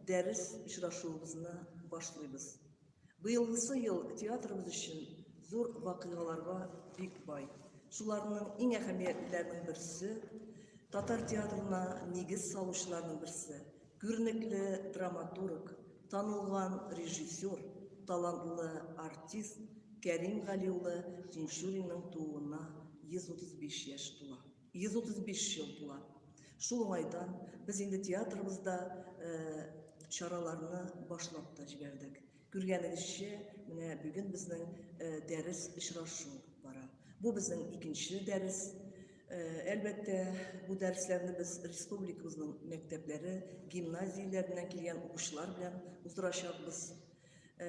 Дәрес очрашуыбызны башлыйбыз. Быелгысы ел театрыбыз өчен зур вакыйгаларга бик бай. Шуларның иң әһәмиятлеләренең берсе, татар театрына нигез салучыларның берсе, күренекле драматург, танылган режиссер, талантлы артист Кәрим Гали улы Тинчуринның тууына 135 яшь тула. 135 ел була. Шул уңайдан без инде театрыбызда чараларны башлап та җибәрдек. Күргәнегезчә, менә бүген безнең дәрес очрашу бара. Бу безнең икенче дәрес. Әлбәттә, бу дәресләрне без республикабызның мәктәпләре, гимназияләреннән килгән укучылар белән уздырачакбыз. Э,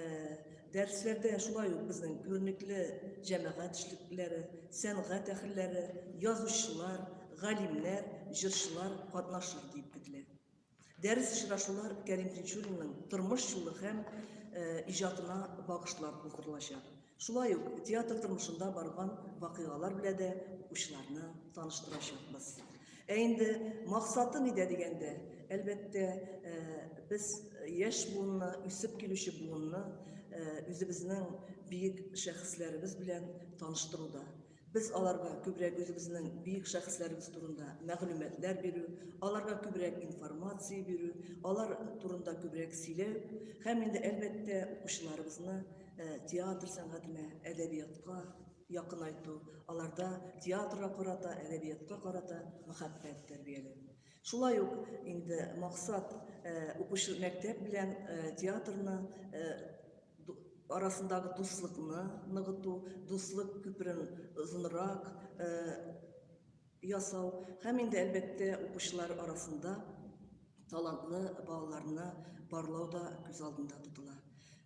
дәресләрдә шулай ук безнең күренекле җәмәгать эшлеклеләре, сәнгать әһелләре, язучылар, галимнәр, җырчылар катнашыр дип көтелә. Дәрес очрашулар Кәрим Тинчуринның тормыш юлы һәм э, иҗатына багышлап уздырылачак. Шулай ук театр тормышында барган вакыйгалар белә дә укучыларны таныштырачакбыз. Ә инде максаты нидә дигәндә, әлбәттә, без яшь буынны, үсеп килүче буынны үзебезнең биек шәхесләребез белән таныштыруда. Без аларга күбрәк үзебезнең бөек шәхесләребез турында мәгълүматлар бирү, аларга күбрәк информация бирү, алар турында күбрәк сөйләү һәм инде әлбәттә укучыларыбызны э, театр сәнгатенә, әдәбиятка якынайту, аларда театрга карата, әдәбиятка карата мәхәббәт тәрбияләү. Шулай ук инде максат укучы мәктәп белән театрны арасындагы дуслыкны ныгыту, дуслык күперен озынрак ясау һәм инде әлбәттә укучылар арасында талантлы балаларны барлау да күз алдында тотыла.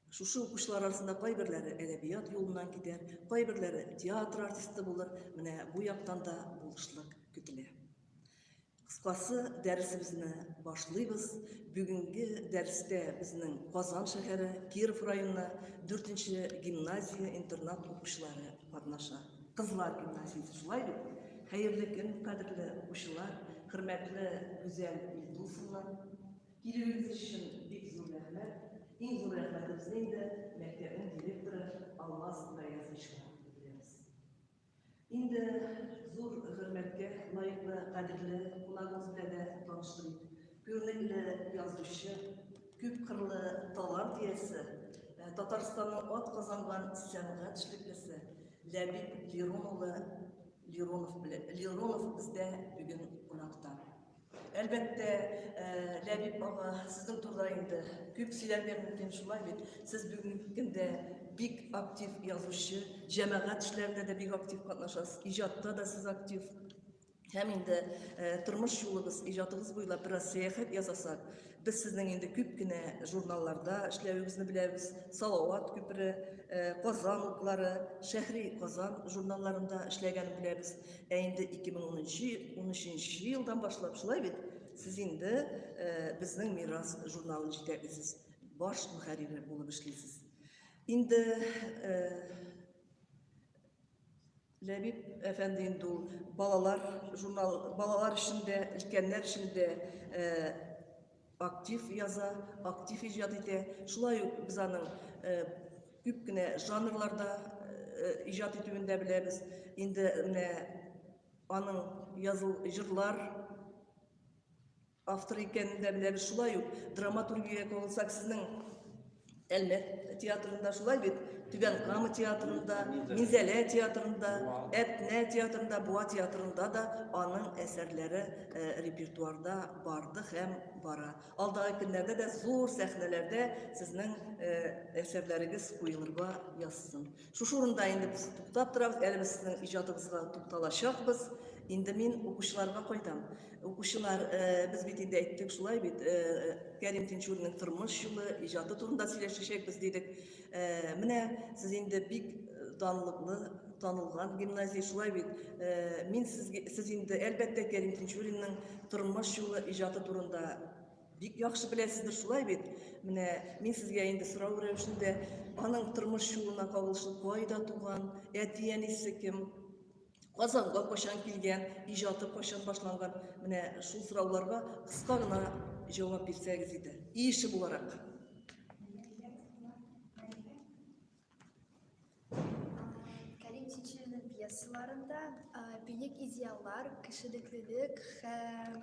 Шушы укучылар арасында кайберләре әдәбият юлыннан китәр, кайберләре театр артисты булыр. Менә бу яктан да булышлык көтелә. Кыскасы, дәресебезне башлыйбыз. Бүгенге дәрестә безнең Казан шәһәре, Киров районы 4-нче гимназия-интернат укучылары катнаша. Кызлар гимназиясе, шулай бит? Хәерле көн, кадерле укучылар, хөрмәтле Гүзәл Илдусовна. Килүегез өчен бик зур рәхмәт. Иң зур рәхмәтебезне инде мәктәпнең директоры Алмаз Гаязовичка белдерәбез. Инде зур хөрмәткә лаеклы кадерле кунагыбыз белән дә таныштырыйк. Күренекле язучы, күп кырлы талант иясе, э, Татарстанның ат казанган сәнгать эшлеклесе Ләбиб Лирон улы Лиронов белән Лиронов бездә бүген кунакта. Әлбәттә, э, Ләбиб ага, сезнең турыда инде күп сөйләргә мөмкин, шулай бит. Сез бүгенге көндә бик актив язучы, җәмәгать эшләрендә дә бик актив катнашасыз, иҗатта да сез актив. Һәм инде э, тормыш юлыгыз, иҗатыгыз буйлап бераз сәяхәт ясасак, Без сезнең инде күп кенә журналларда эшләвегезне беләбез. Салават күпере, э, Казан утлары, Шәһри Казан журналларында эшләгәнен беләбез. Ә инде 2013 елдан башлап шулай бит? Сез инде э, безнең Мирас журналын җитәклисез. Баш мөхәррире булып эшлисез. Инде э, Ләбиб әфәнде инде ул балалар журнал, балалар өчен дә, өлкәннәр өчен дә актив яза, актив иҗат итә. Шулай ук без аның күп кенә жанрларда иҗат итүен дә беләбез. Инде менә аның языл җырлар Автор икәнен дә беләбез. Шулай ук драматургиягә кагылсак, сезнең Әлмәт театрында шулай бит, Түбән Кама театрында, Минзәлә театрында, Әтнә театрында, Буа театрында да аның әсәрләре э, репертуарда барды һәм бара. Алдагы көннәрдә дә зур сәхнәләрдә сезнең э, әсәрләрегез куелырга язсын. Шушы урында инде без туктап торабыз, әле без сезнең иҗатыгызга тукталачакбыз. Инде мин укучыларга кайтам. Укучылар, э, без бит инде әйттек шулай бит, э, э, Кәрим Тинчуринның тормыш юлы, иҗаты турында сөйләшәчәкбез дидек. Э, менә сез инде бик данлыклы танылган гимназия шулай бит. Э, мин сезгә сез инде әлбәттә Кәрим Тинчуринның тормыш юлы, иҗаты турында Бик яхшы беләсездер шулай бит. Менә мин сезгә инде сорау рәвешендә аның тормыш юлына кагылышлы кайда туган, әти-әнисе кем, Казанга кайчан килгән, иҗаты кайчан башланган, менә шул сорауларга кыска гына җавап бирсәгез иде. Иеше буларак. Кәрим Чичилинең пьесаларында бөек идеаллар, кешелеклелек һәм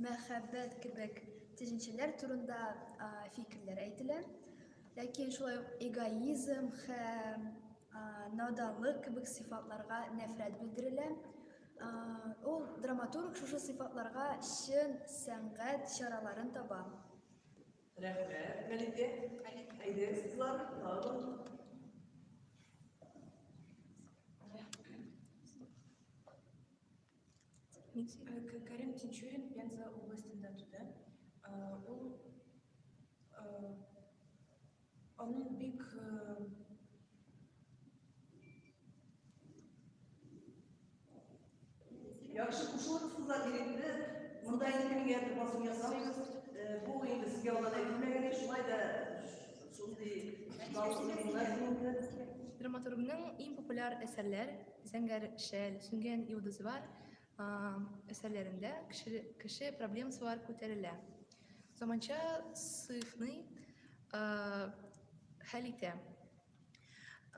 мәхәббәт кебек төшенчәләр турында фикерләр әйтелә. Ләкин шулай ук эгоизм һәм наданлык кебек сыйфатларга нәфрәт белдерелә. Ул драматург шушы сыйфатларга чын сәнгать чараларын таба. Рәхмәт, Мәликә. Әйдә, сызлар, тагын. Карим Тинчурин Пенза областында туды. Ул аның бик Яхшы кушылыгыз кызлар ирекне. Монда инде кемгә дә басым ясамыйбыз. Э, бу инде сезгә алдан әйтелмәгән иде, шулай да шундый Драматургның иң популяр әсәрләр Зәңгәр шәл, Сүнгән йолдыз бар әсәрләрендә кеше, кеше проблемасы бар күтәрелә. Заманча сыйфны хәл итә.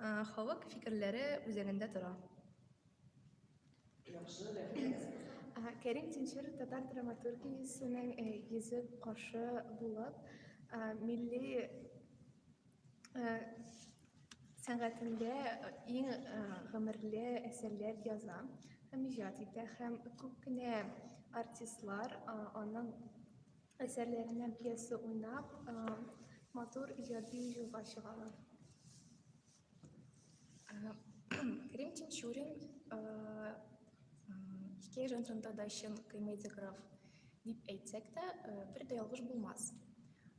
Э, халык фикерләре үзәгендә тора. Яхшы, рәхмәт. Кәрим Тинчер татар драматургиясенең э, йөзе каршы булып, э, милли сәнгатендә иң гомерле әсәрләр яза һәм иҗат итә һәм күп кенә артистлар аның әсәрләренә пьеса уйнап, матур иҗади юлга чыгалар. Крим Тинчурин хикәя жанрында да чын комедиограф дип әйтсәк тә, бер дә ялгыш булмас.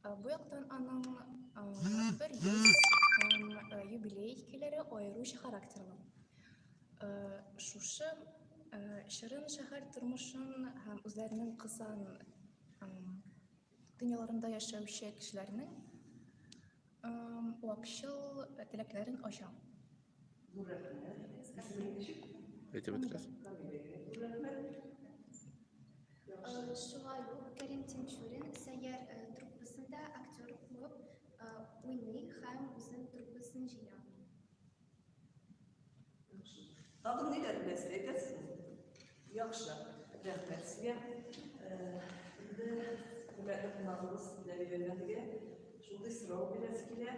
Бу яктан аның бер юбилей хикәяләре аеруча характерлы. Шушы шырын шәһәр тормышын һәм үзләренең кысан дөньяларында яшәүче кешеләрнең вакчыл теләкләрен ача. Әйтеп үтегез. Шулай ук Кәрим Тинчурин сәйяр труппасында актер булып уйный һәм үзен труппасын җыя. Тагын ниләр беләсез, әйтерсез? Яхшы, рәхмәт сезгә. Инде күмәкле кунагыбыз Ләли Бәлмәтегә шундый сорау бирәсе килә.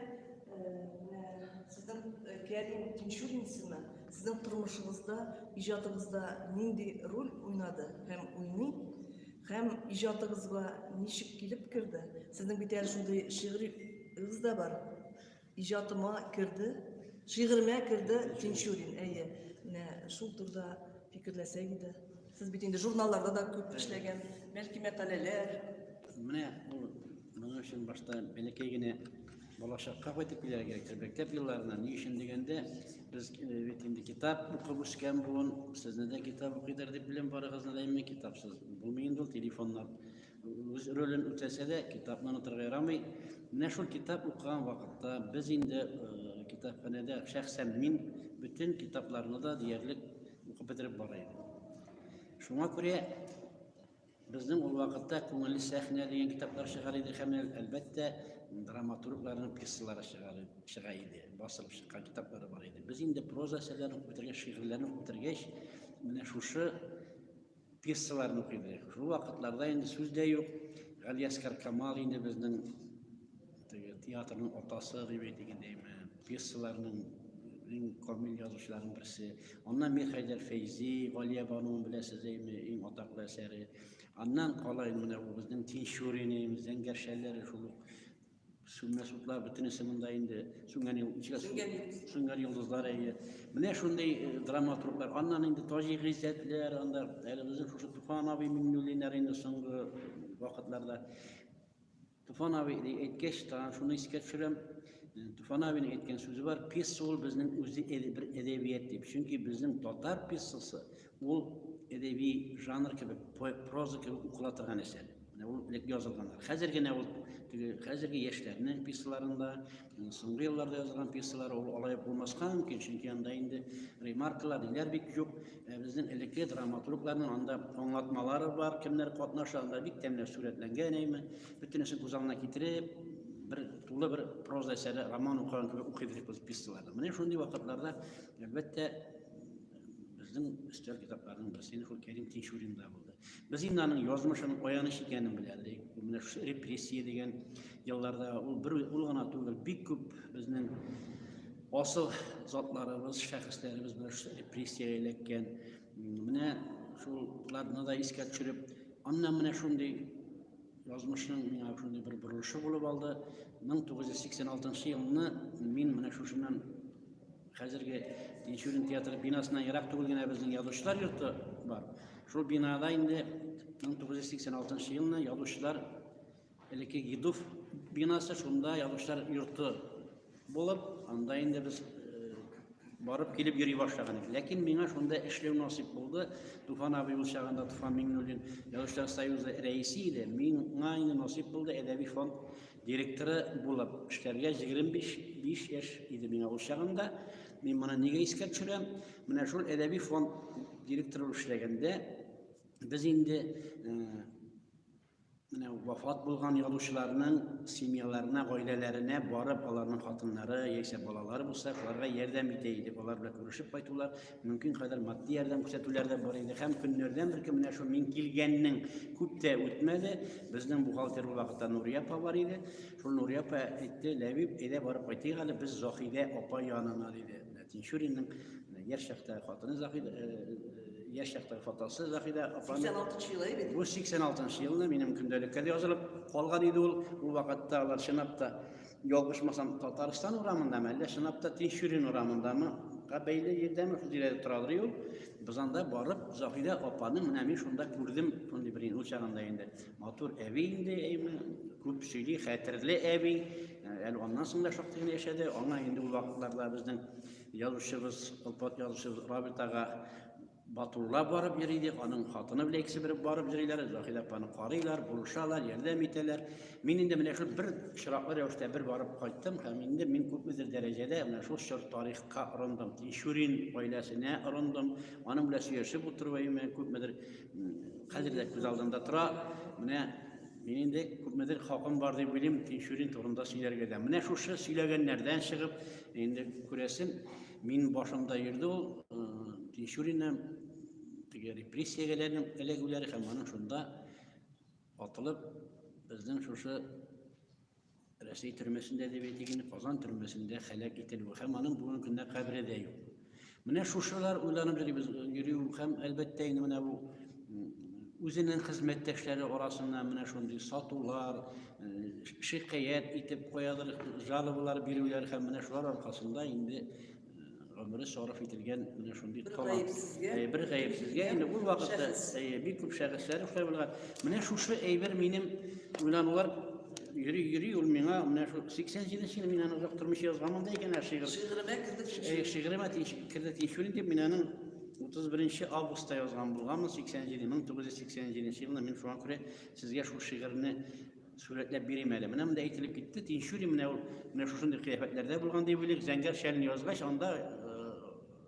Сезнең Кәрим Тинчурин исеме сезнең тормышыгызда, иҗатыгызда нинди роль уйнады һәм уйный? Һәм иҗатыгызга ничек килеп керде? Сезнең бит әле шундый шигъриегез дә бар. Иҗатыма керде, шигыремә керде Тинчурин, әйе. Менә шул турда фикерләсәк иде. Сез бит инде журналларда да күп эшләгән, бәлки мәкаләләр. Менә ул моның өчен башта бәләкәй генә балачакка кайтып килергә кирәк. Мәктәп елларына ни өчен дигәндә, без э, бит инде китап укып үскән буын, сезне дә китап укыйдыр дип беләм, барыгызны да имин китапсыз. Булмый инде ул телефоннар. үз ролен үтәсә дә, китапны онытырга ярамый. Менә шул китап укыган вакытта без инде э, китапханәдә шәхсән мин бөтен китапларны да диярлек укып бетереп бара идем. Шуңа күрә безнең ул вакытта күңелле сәхнә дигән китаплар чыгар иде һәм әлбәттә драматургларның пьесалары чыга иде, басылып чыккан китаплары бар иде. Без инде проза әсәрләрен укып бетергәч, шигырьләрне укып бетергәч, менә шушы пьесаларын укыйбыз. Шул вакытларда инде сүз дә юк. Галиәскар Камал инде безнең театрның атасы дип әйтгәндәйме, пьесаларның иң камил язучыларның берсе. Аннан Мирхәйдәр Фәйзи, Галия бануын беләсез дәйме, иң атаклы әсәре. Аннан кала инде менә бу безнең Тинчурин, Зәңгәршәләр шул ук Сүнмә сутлар бөтенесе монда инде сүнгән юлдызлар. Сүнгән юлдыз. Сүнгән юлдызлар әйе. Менә шундый э, драматурглар. Аннан инде Таҗи Гыйззәтләр, анда әле безнең шушы Туфан абый Миңнуллиннар инде соңгы вакытларда. Туфан абый әйткәч, тагын шуны искә төшерәм. Э, Туфан абыйның әйткән сүзе бар, пьеса ул безнең үзе бер әдәбият дип. Чөнки безнең татар пьесасы Ул әдәби жанр кебек, проза кебек укыла торган әсәр. Менә ул элек язылганнар. Хәзер генә ул теге хәзерге яшьләрнең пьесаларында, соңгы елларда язылган пьесалар ул алай булмаска мөмкин, чөнки анда инде ремаркалар, ниләр бик юк. Ә безнең элекке драматургларның анда аңлатмалары бар, кемнәр катнаша, анда бик тәмле сурәтләнгән әйме. Бөтенесен күз алдына китереп, бер тулы бер проза әсәре, роман укыган кебек укый биреп пьесаларны. Менә шундый вакытларда, әлбәттә, Безнең өстәл китапларының берсе инде шул Кәрим Тинчуринда булды. Без инде аның язмышын аяныч икәнен беләдек. Менә шушы репрессия дигән елларда ул бер ул гына түгел, бик күп безнең асыл затларыбыз, шәхесләребез менә шушы репрессия эләккән. Менә шуларны да искә төшереп, аннан менә шундый язмышның миңа шундый бер борылышы булып алды. 1986 елны мин менә шушыннан Хәзерге Тинчурин театры бинасына ерак түгел генә безнең язучылар йорты бар. Шул бинада инде 1986 елны язучылар элекке Гидов бинасы шунда язучылар йорты булып, анда инде без э, барып килеп йөри башлаган идек. Ләкин миңа шунда эшләү насыйп булды. Туфан абый ул чагында Туфан Миңнуллин язучылар союзы рәисе иде. Миңа инде насыйп булды әдәби фонд Директоры булып эшләргә 25 яшь иде миңа ул чагында. Мин моны нигә искә төшерәм? Менә шул әдәби фонд директоры булып эшләгәндә без инде менә вафат булган язучыларның семьяларына, гаиләләренә барып, аларның хатыннары яисә балалары булса, аларга ярдәм итә идек. Алар белән күрешеп кайтулар, Мөмкин кадәр матди ярдәм күрсәтүләр дә бар иде. Һәм көннәрдән бер көн менә шул мин килгәннең күп тә үтмәде. Безнең бухгалтер ул вакытта Нурия апа бар иде. Шул Нурия апа әйтте, Ләбиб, әйдә барып кайтыйк әле, без Заһидә апа янына диде. Тинчуринның э, яшь чакта хатыны Заһидә э, э, яшь чакта фотосы Заһидә апа. 86 елы иде. Бу 86 елны минем көндәлеккә язылып калган иде ул. Ул вакытта алар чынлап та Ялгышмасам, Татарстан урамындамы, әллә чынлап та Тинчурин урамындамы? Га бәйле җирдәме шул тирәдә торадыр ул. Без анда барып, Заһидә апаны менә мин шунда күрдем, шундый бер ул чагында инде. Матур әби инде, әйме, күп сөйли, хәтерле әби. Әле аннан соң да шактый гына яшәде. Аңа инде ул вакытларда безнең язучыбыз, Олпат язучыбыз Рабит ага Батулла барып йөри ди, аның хатыны белән икесе бер барып йөриләр, Заһидә апаны карыйлар, булышалар, ярдәм итәләр. Мин инде менә шул бер очраклы рәвештә бер барып кайттым һәм инде мин күпмедер дәрәҗәдә менә шул чор тарихка орындым. Тинчурин гаиләсенә орындым. Аның белән сөйләшеп утыруыма күпмедер хәзер дә күз алдында тора. Менә мин инде күпмедер хакым бар дип уйлыйм Тинчурин турында сөйләргә дә. Менә шушы сөйләгәннәрдән чыгып, Инде күрәсен, мин башымда йөрде ул Тинчурина теге репрессиягә эләгүләре һәм аның шунда атылып безнең шушы Рәсәй төрмәсендә дип әйтик инде, Казан төрмәсендә һәлак ителүе һәм аның бүгенге көндә кабере дә юк. Менә шушылар уйланып йөрибез, йөрү һәм әлбәттә инде менә бу үзенең хезмәттәшләре арасында менә шундый сатулар, шикаять итеп куядыр, жалобалар бирүләр һәм менә шулар аркасында инде гомере сарыф ителгән менә шундый талант. Бер гаепсезгә инде ул вакытта бик күп шәхесләр эшләп булган. Менә шушы әйбер минем уйланулар Йөри, йөри, ул миңа менә шул 87 нче ел мин аны озак тормыш язганмын да икән, ә шигырь. Шигыремә керде тинчү. Шигыремә керде тинчү дип мин аның 31 августта язган булганмын, 87 1987 елында мин шуңа күрә сезгә шул шигырьне сурәтләп бирим әле. Менә монда әйтелеп китте, тинчү менә ул менә шушындый кыяфәтләрдә булган дип уйлыйк. Зәңгәр шәлне язгач, анда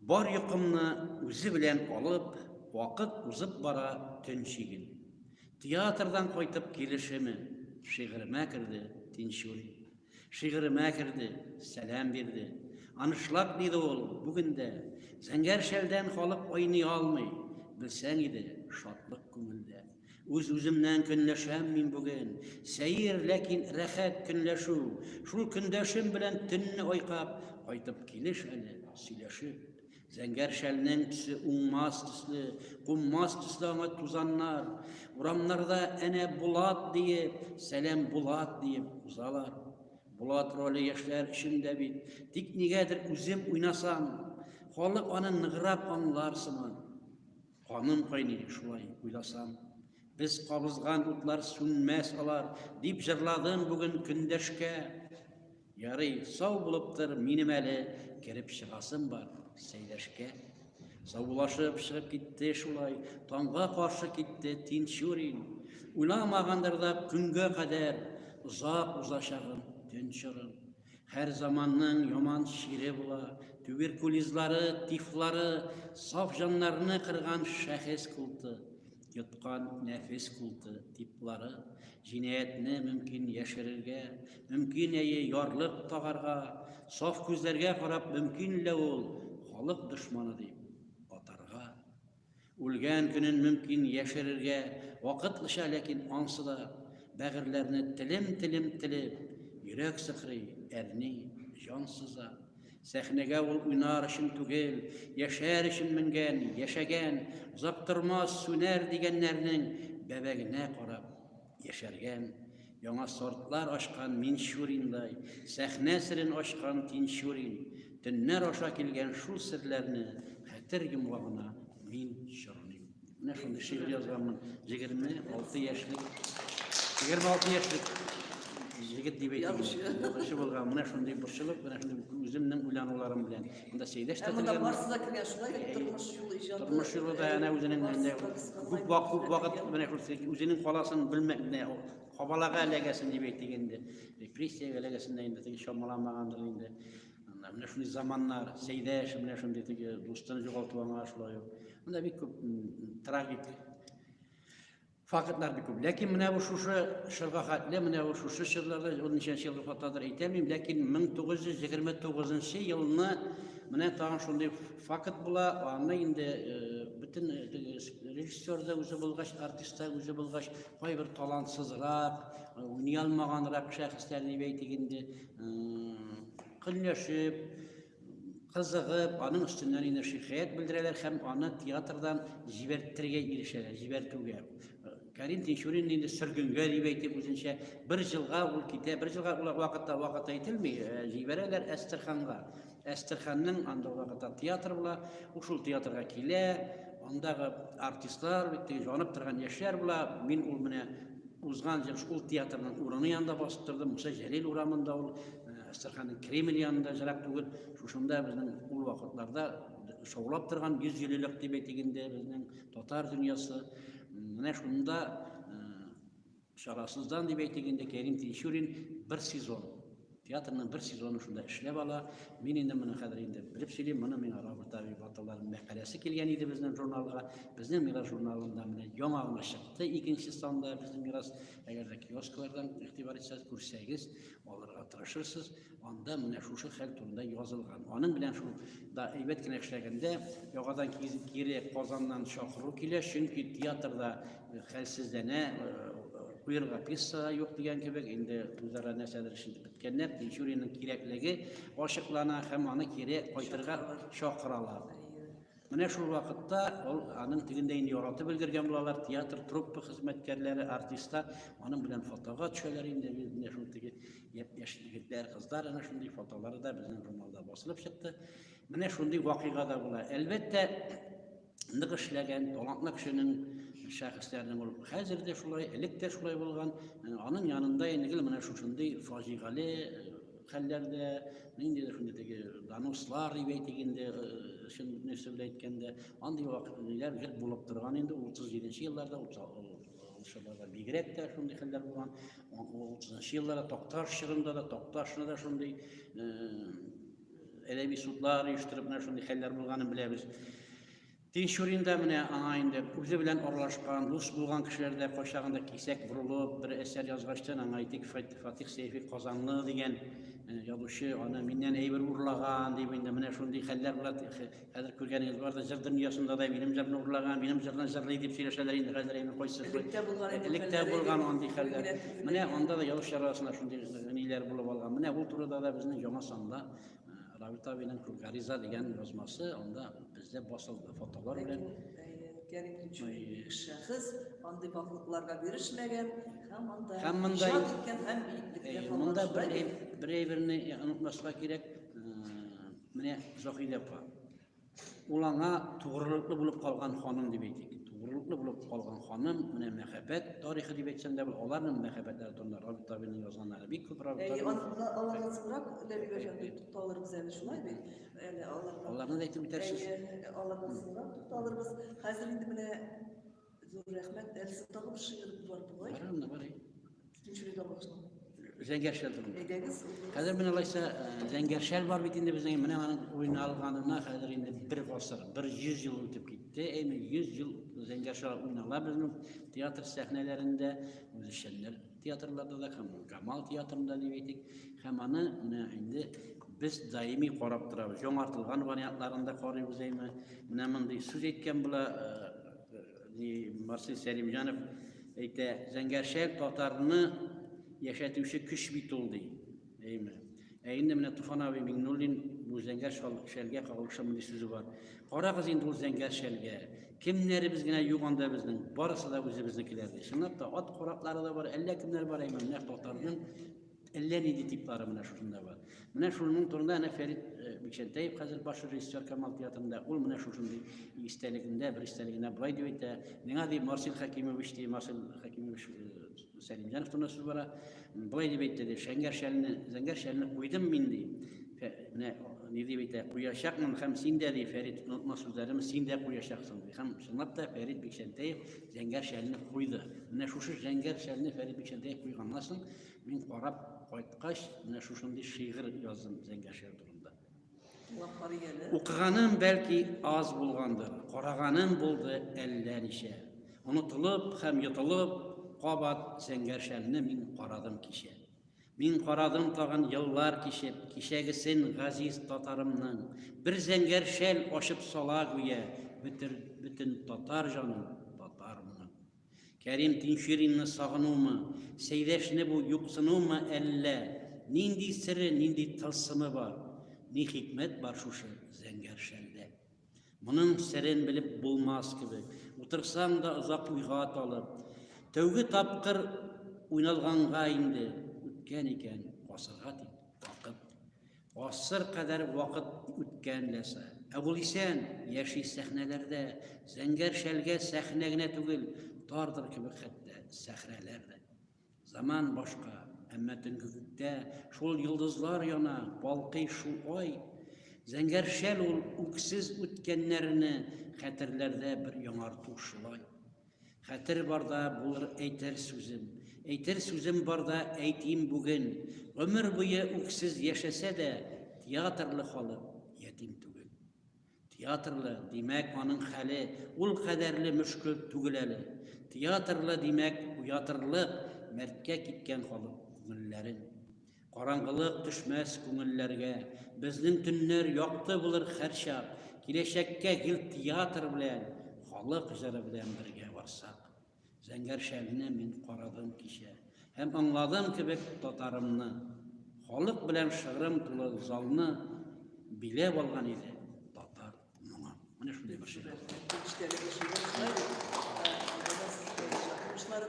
Бар йокымны үзе белән алып, вакыт узып бара, төн чиген. Театрдан кайтып килешеме, шигыремә керде Тинчурин. Шигыремә керде, сәлам бирде. Анышлап диде ул, бүген дә Зәңгәр шәлдән халык айный алмый, белсәң иде, шатлык күңелдә. Үз-үземнән көнләшәм мин бүген. Сәер, ләкин рәхәт көнләшү. Шул көндәшем белән төнне айкап, кайтып килеш әле, сөйләшеп. Зәңгәр шәлнең төсе уңмас төсле, куммас төсле аңа тузаннар. Урамнарда әнә Булат диеп, сәлам Булат диеп узалар. Булат роле яшьләр өчен дә бит. Тик нигәдер үзем уйнасам, халык аны ныграк аңлар сыман. Каным кайный шулай уйласам. Без кабызган утлар сүнмәс алар, дип җырладым бүген көндәшкә. Ярый, сау булып тор, минем әле кереп чыгасым бар сәйләшкә. Саубулашып чыгып китте шулай, таңга каршы китте Тинчурин. Уйламагандыр да көнгә кадәр, озак узачагын төн чорын. Һәр заманның яман чире була. Туберкулизлары, тифлары, саф җаннарны кырган шәхес култы, йоткан нәфес култы, типлары, җинаятьне мөмкин яшерергә, мөмкин әйе ярлык тагарга, саф күзләргә карап мөмкин лә ул халык дошманы дип атарга. Үлгән көнен мөмкин яшерергә вакытлыча, ләкин ансы да бәгырьләрне телем-телем телеп, йөрәк сыхрый, әрни, җан сыза. Сәхнәгә ул уйнар өчен түгел, яшәр өчен менгән, яшәгән, озак тормас, сүнәр дигәннәрнең бәбәгенә карап, Яшәргән, яңа сортлар ашкан Минчуриндай, сәхнә серен ашкан Тинчурин, төннәр аша килгән шул серләрне хәтер йомгагына мин чорныйм. Менә шундый шигырь язганмын. 26 яшьлек 26 яшьлек егет дип әйтәм. Язучы булган. Менә шундый борчылып, менә шундый үземнең уйлануларым белән Монда сәйдәш тә Монда барсы да кергән шулай бит тормыш юлы иҗаты. Тормыш юлы да әнә үзенең менә күп вак күп вакыт менә күрсәк үзенең каласын белмәк менә кабалага эләгәсен дип әйтик инде. Репрессиягә эләгәсен дә инде теге чамаламагандыр инде. Менә шундый заманнар, сәйдәш менә шундый теге дустын югалту аңа шулай ук. Монда бик күп трагик Фактлар бик күп. Ләкин менә бу шушы чорга хәтле, менә бу шушы чорларда, ул ничәнче елгы фотодыр әйтәмим, ләкин 1929 елны менә тагын шундый факт була, аны инде э, бөтен э, режиссер да үзе булгач, артист та үзе булгач, кайбер талантсызрак, э, уйный алмаганрак шәхесләр дип әйтик инде, көнләшеп, кызыгып, аның өстеннән инде шикаять белдерәләр һәм аны театрдан җибәртерергә ирешәләр, җибәртүгә. Карим Тинчурин инде сөргенгә дип әйтеп үзенчә бер җылга ул китә, бер җылга ул вакытта вакыт әйтелми, э, җибәрәләр Әстерханга. Әстерханның анда вакытта театр була, ул шул театрга килә, андагы артистлар, бит җанып торган яшьләр була, мин ул менә узган ел шул театрның урыны янында басып тордым, Муса Җәлил урамында ул Әстерханның Кремль янында җырак түгел, шушында безнең ул вакытларда шаулап торган йөз еллык дип әйтик инде безнең татар дөньясы. Менә шунда чарасыздан дип әйтик инде Кәрим Тинчурин бер сезон театрның бер сезоны шунда эшләп ала. Мин инде моны хәзер инде белеп сөйлим, моны миңа Роберт Авип аталарының мәкаләсе килгән иде безнең журналга. Безнең Мирас журналында менә яңа гына чыкты, икенче санда безнең Мирас, әгәр дә киосклардан игътибар итсәгез, күрсәгез, алырга тырышырсыз, анда менә шушы хәл турында язылган. Аның белән шул да әйбәт кенә эшләгәндә, яңадан кире Казаннан чакыру килә, чөнки театрда э, хәлсезләнә, куерга э, пьеса юк дигән кебек, инде үзара нәрсәдер эшен беткәннәр, Тинчуринның кирәклеге ачыклана һәм аны кире кайтырга чакыралар. Менә шул вакытта ул аның тегендә инде яратып өлгергән булалар, театр труппа хезмәткәрләре, артистлар аның белән фотога төшәләр инде. Менә шул теге яшь егетләр, кызлар ана шундый фотолары да безнең журналда басылып чыкты. Менә шундый вакыйга да була. Әлбәттә, нык эшләгән, талантлы кешенең шәхесләрнең ул хәзер дә шулай, элек тә шулай булган. Аның янында инде менә шушындый фаҗигале Хәлләр дә, ниндидер инде теге донослар дип әйтик инде, э, чын нәрсә белән әйткәндә, андый вакытлар гел булып торган инде 37 нчы елларда, 30 елларда бигрәк тә шундый хәлләр булган. 30 нчы елларда Такташ чорында да, Такташны да шундый э, әдәби судлар оештырып, менә шундый хәлләр булганын беләбез. Тинчурин да менә аңа инде үзе белән аралашкан, дус булган кешеләр дә кайчагында кисәк борылып, бер әсәр язгачтын, аңа әйтик, Фатих Сәйфи Казанлы дигән э, язучы аны миннән әйбер урлаган, дип инде менә шундый хәлләр була. Хәзер күргәнегез бар да, җыр дөньясында да минем җырны урлаган, минем җырны җырлый дип сөйләшәләр инде хәзер инде кайсы. Электә булган, электә булган андый хәлләр. Менә анда да язучылар арасында шундый ниләр булып алган. Менә ул турыда да безнең яңа санда Равит абиның Күкариза дигән язмасы анда бездә басылды фотолар белән. Шәхес андый баклыкларга бирешмәгән һәм анда һәм монда иткән һәм монда бер бер әйберне онытмаска кирәк. Менә Зохилә апа. Ул аңа тугрылыклы булып калган ханым дип әйтик. Тугрылыклы булып калган ханым, менә мәхәббәт тарихы дип әйтсәм дә, аларның мәхәббәтләре турында Равил Табинның язганнары бик күп Равил Табин. Аларда аларда сыбрак Ләбибә җан дип тукталырбыз әле шулай бит. Әле аларда. Аларны да әйтеп үтәрсез. Аларда сыбрак тукталырбыз. Хәзер инде менә Зур рәхмәт. Әлсә тагы бер шигырь бар бугай. Бар анда бар. Икенче рәйдә башлау. Зәңгәршәл турында. Әйдәгез. Хәзер менә алайса э, Зәңгәршәл бар бит инде безнең. Менә аның уйналганына хәзер инде бер гасыр, бер 100 ел үтеп китте. Әйме 100 ел Зәңгәршәл уйнала безнең театр сәхнәләрендә үзешчәннәр Театрларда да һәм Камал театрында дип әйтик, һәм аны менә инде без даими карап торабыз. Яңартылган вариантларын да карыйбыз әйме. Менә мондый сүз әйткән була э, Марсель Сәлимҗанов әйтә, Зәңгәршәл татарны яшәтүче көч бит ул ди. Әйме. Ә инде менә Туфан абый Миңнуллин бу зәңгәр шәлгә кагылышлы мондый сүзе бар. Карагыз инде ул зәңгәр шәлгә. Кемнәребез генә юк анда безнең. Барысы да үзебезнекеләр ди. Чынлап та ат кораклары да бар, әллә кемнәр бар әйме. Менә татарның әллә нинди типлары менә шушында бар. Менә шуның турында әнә Фәрит э, Бикчәнтәев хәзер баш режиссер Камал театрында. Ул менә шушындый истәлегендә, бер истәлегенә былай дип әйтә. Миңа ди Марсил Хәкимович ди, Марсил Хәкимович э, Сәлимҗанов турында сүз бара. Болай дип әйтте, дип, шәңгәр шәлне, зәңгәр шәлне куйдым мин, ди. Менә ни дип әйтә, куячакмын һәм син дә, ди, Фәрит, онытма сүзләрем, син дә куячаксың, ди. Һәм чынлап та Фәрит Бикчәнтәев зәңгәр шәлне куйды. Менә шушы зәңгәр шәлне Фәрит Бикчәнтәев куйганнан соң мин карап кайткач, менә шушындый шигырь яздым зәңгәр шәл турында. Укыганым бәлки аз булгандыр, караганым булды әллә ничә. Онытылып һәм йотылып, кабат зәңгәршәлне мин карадым кичә. Мин карадым тагын еллар кичеп, кичәгесен газиз татарымның. Бер зәңгәршәл ачып сала гүя, бөтен татар җаным татармын. Кәрим Тинчуринны сагынуымы, Сәйдәшне бу юксынуымы әллә, нинди сере, нинди тылсымы бар? Ни хикмәт бар шушы зәңгәр шәлдә? Моның серен белеп булмас кебек, утырсаң да озак уйга талып. Тәүге тапкыр уйналганга инде үткән икән гасырга дип вакыт. Гасыр кадәр вакыт үткән ләса. Ә ул исән, яши сәхнәләрдә. Зәңгәр шәлгә сәхнә генә түгел, тардыр кебек хәтта сәхрәләр дә. Заман башка, әмма төнге күктә шул йолдызлар яна, балкый шул ай. Зәңгәр шәл ул үксез үткәннәрне хәтерләрдә бер яңарту шулай. Хәтер барда булыр әйтер сүзем. Әйтер сүзем барда әйтим бүген. Гомер буе үксез яшәсә дә, театрлы халык ятим түгел. Театрлы, димәк, аның хәле ул кадәрле мөшкел түгел әле. Театрлы, димәк, уятырлык, мәрткә киткән халык күңелләрен. Караңгылык төшмәс күңелләргә, безнең төннәр якты булыр һәрчак, киләчәккә гел театр белән, халык җыры белән бергә барсак. Зәңгәр шәлне мин карадым кичә һәм аңладым кебек татарымны. Халык белән шыгрым тулы залны биләп алган иде татар моңы. Менә шундый бер шигырь. Э,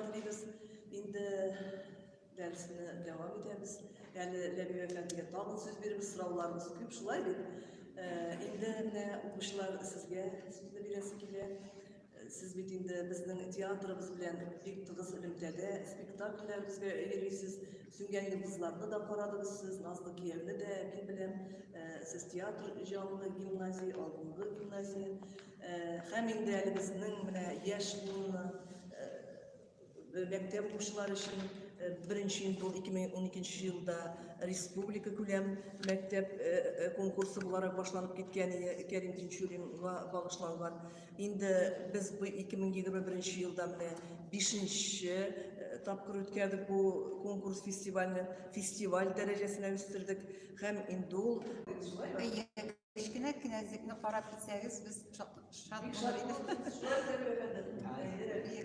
инде Дәресне дәвам итәбез. Әле Ләбиб әфәндегә тагын сүз биребез, сорауларыбыз күп шулай бит. Инде менә укучылар сезгә сүзне бирәсе килә. Сез бит инде безнең театрыбыз белән бик тыгыз элемтәдә, спектакльләребезгә йөрисез, Сүнгән йолдызларны да карадыгыз сез, Назлы кияүне дә мин беләм. Сез театр җанлы гимназия, алдынгы гимназия. Һәм инде әле безнең менә яшь буынны мәктәп укучылары өчен э, беренче интул 2012 елда республика күләм мәктәп э, э, конкурсы буларак башланып киткән Кәрим Тинчуринга багышланган. Инде без бу 2021 елда менә 5 тапкыр үткәрдек бу конкурс фестивальне, фестиваль дәрәҗәсенә үстердек һәм инде ул Кечкенә кенәзлекне карап китсәгез, без шат булыр идек.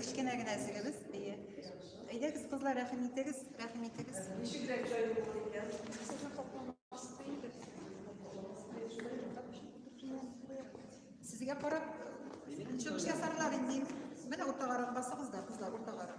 Кечкенә кенәзлегебез, әйе. Әйдәгез, кызлар, рәхим итегез, рәхим итегез. Ничек рәк җай булыр икән? Сезгә карап, чыгыш ясарлар инде. Менә уртагарак басыгыз да, кызлар, уртагарак.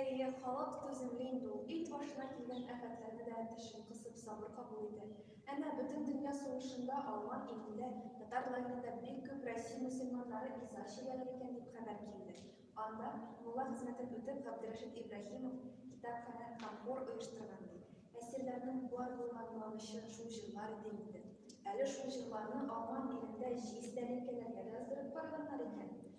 Әйе, халык түземле инде ул, ит башына килгән афәтләрне дә тешен кысып, сабыр кабул итә. Әмма Бөтендөнья сугышында Алман илендә, татар районында бик күп Россия мөселманнары иза чигәләр икән дип хәбәр килде. Анда, мулла хезмәтен үтеп, Габдерәшит Ибраһимов китапханә һәм хор оештырган, ди. Әсирләрнең бар булган куанычы шул җырлар иде инде. Әле шул җырларны Алман илендә җиз тәлинкәләргә дә яздырып караганнар икән.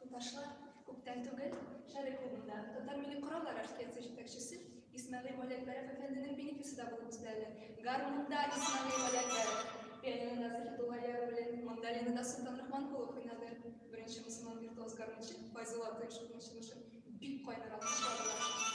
Туташлар, күптән түгел Шәрык клубында Татар милли кораллар оркестры җитәкчесе Исмәгыйль Мөләкбәров әфәнденең бинекесе дә булып үтте әле. Гармунда Исмәгыйль Мөләкбәров, пианинода Заһидулла Яруллин, мандолинада Солтан Рахманкулов уйнады. Беренче мөселман виртуоз гармунчы Файзулла Атаешевның чыгышы бик кайнар алкышлады.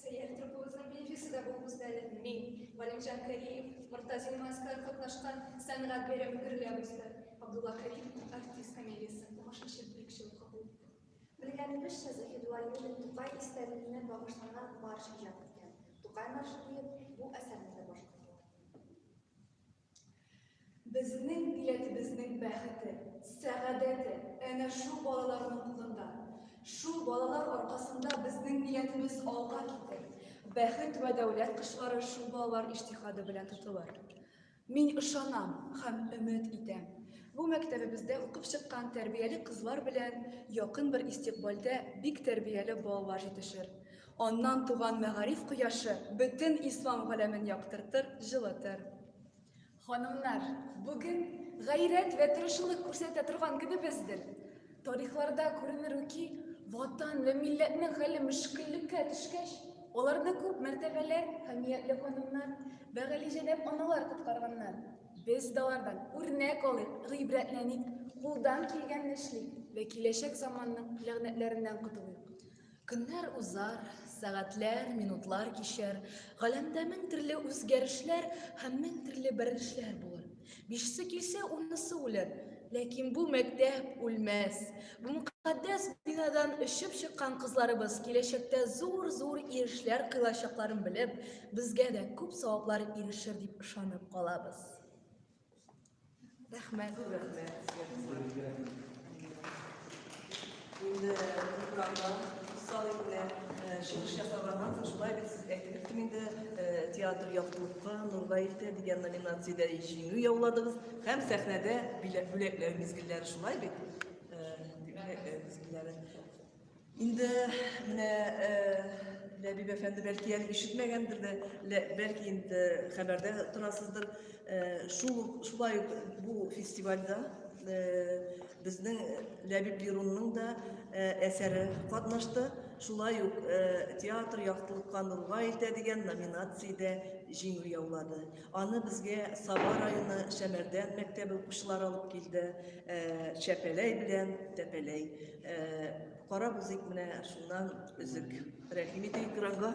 Сәйяр трупыбызның билгесе дә булыгыз әле. Мин, Галимҗан Кәриев, Мортазин Маскар катнашкан сәнгать бәйрәме гөрләп үсте. Абдулла Кәриев артист комедиясе тамашачы бүлекчә укып булды. Белгәнебезчә, Заһидулла Юлин Тукай истәлегенә багышланган марш иҗат иткән. Тукай маршы диеп бу әсәрне дә башкаралар. Безнең милләтебезнең бәхете, сәгадәте әнә шул балаларның кулында. Шул балалар аркасында безнең милләтебез алга китер. Бәхет вә дәүләт кошлары шул балалар иҗтихады белән тотылыр. Мин ышанам һәм өмет итәм, бу мәктәбебездә укып чыккан тәрбияле кызлар белән якын бер истикбальдә бик тәрбияле балалар җитешер. Аннан туган мәгариф кояшы бөтен ислам галәмен яктыртыр, җылытыр. Ханымнар, бүген гайрәт вә тырышылык күрсәтә торган көнебездер. Тарихларда күренер ү ки, Ватан вә милләтнең хәле мөшкеллеккә төшкәч, аларны күп мәртәбәләр, хәмиятле ханымнар вә галиҗәнап аналар коткарганнар. Без дә алардан үрнәк алыйк, гыйбрәтләник, кулдан килгәнне эшлик вә киләчәк заманның ләгънәтләреннән котылыйк. Көннәр узар, сәгатьләр, минутлар кичәр, галәмдә мең төрле үзгәрешләр һәм мең төрле бәрелешләр булыр. Бишсе килсә, унысы үлер, ләкин бу мәктәп үлмәс. Бу мөкатдәс бинадан өшеп чыккан кызларыбыз киләчәктә зур-зур ирешләр кыйлачакларын белеп, безгә дә күп саваплар ирешер дип ышанып калабыз. Рәхмәт. Инде программадан соң инде чыгыш ясаганнан соң шулай бит сез әйтеп киттем инде театр яктылыкка нурга илтә дигән номинациядә җиңү яуладыгыз һәм сәхнәдә бүләкләү мизгелләре шулай бит? Инде менә э, Ләбиб әфәнде бәлки әле ишетмәгәндер дә, бәлки инде хәбәрдә торасыздыр. Э, шул шулай ук бу фестивальдә э, безнең Ләбиб Лерунның да әсәре катнашты. Шулай ук театр яктылыкка нурга илтә дигән номинациядә җиңү яулады. Аны безгә Саба районы Шәмәрдән мәктәбе укучылары алып килде. Чәпәләй белән Тәпәләй Карап узыйк менә шуннан өзек. Рәхим итегез экранга.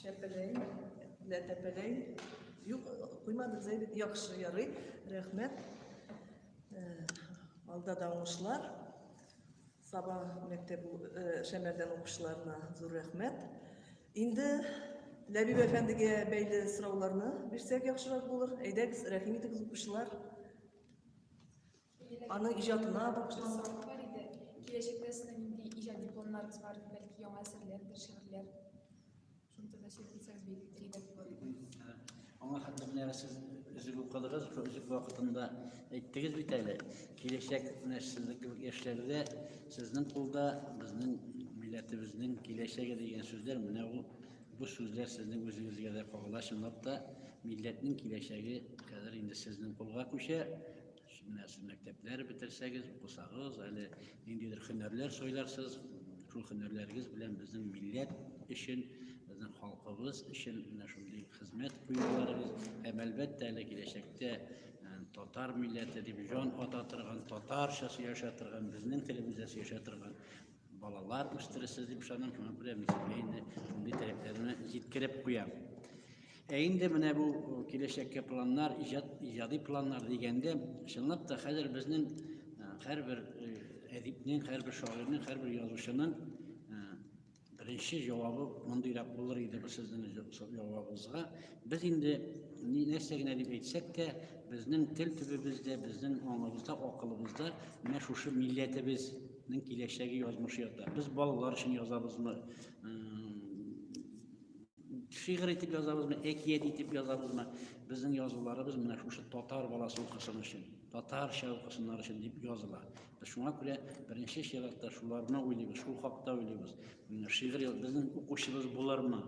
Чәпеләй, лә тәпеләй. Юк, куймадык зәйбит. Яхшы, ярый. Рәхмәт. Э, алда да уңышлар. Саба мәктәп э, шәмәрдән укучыларына зур рәхмәт. Инде Ләбиб әфәндегә бәйле сорауларны бирсәк яхшырак булыр. Әйдәгез, рәхим итегез укучылар. Аның иҗатына багышланган сәфәр иде. Киләчәктә сезнең нинди иҗади планнарыгыз бар? Бәлки яңа әсәрләрдер, шигырьләр? Шуны турында сөйләп китсәгез бик кирәк булыр иде. Аңа хәтле менә сез өзек укыдыгыз, шул өзек вакытында әйттегез бит әле. Киләчәк менә сезнең кебек яшьләргә сезнең кулда безнең милләтебезнең киләчәге дигән сүзләр менә ул бу сүзләр сезнең үзегезгә дә кагыла чынлап та милләтнең киләчәге хәзер инде сезнең кулга күчә Менә сез мәктәпләр бетерсәгез, укысагыз, әле ниндидер һөнәрләр сайларсыз, шул һөнәрләрегез белән безнең милләт өчен, безнең халкыбыз өчен менә шундый хезмәт куюларыгыз һәм әлбәттә әле киләчәктә татар милләте дип җан ата торган, татарча сөйләшә торган, безнең телебездә сөйләшә торган Балалар үстересез дип ышанам, шуңа күрә мин сезгә инде шундый теләкләрне җиткереп куям. Ә инде менә бу киләчәккә планнар, иҗат, иҗади планнар дигәндә, чынлап та хәзер безнең һәрбер әдипнең, һәрбер шагыйрьнең, һәрбер язучының беренче җавабы мондыйрак булыр иде бу сезнең җавабыгызга. Без инде нәрсә генә дип әйтсәк тә, безнең тел төбебездә, безнең аңыбызда, акылыбызда менә шушы милләтебез Ның киләчәге язмышы ята. Без балалар өчен язабызмы? Шигырь итеп язабызмы, әкият итеп язабызмы? Безнең язуларыбыз менә шушы татар баласы укысын өчен, татарча укысыннар өчен дип языла. Без шуңа күрә беренче чиратта шуларны уйлыйбыз, шул хакта уйлыйбыз. Шигырь безнең укучыбыз булырмы?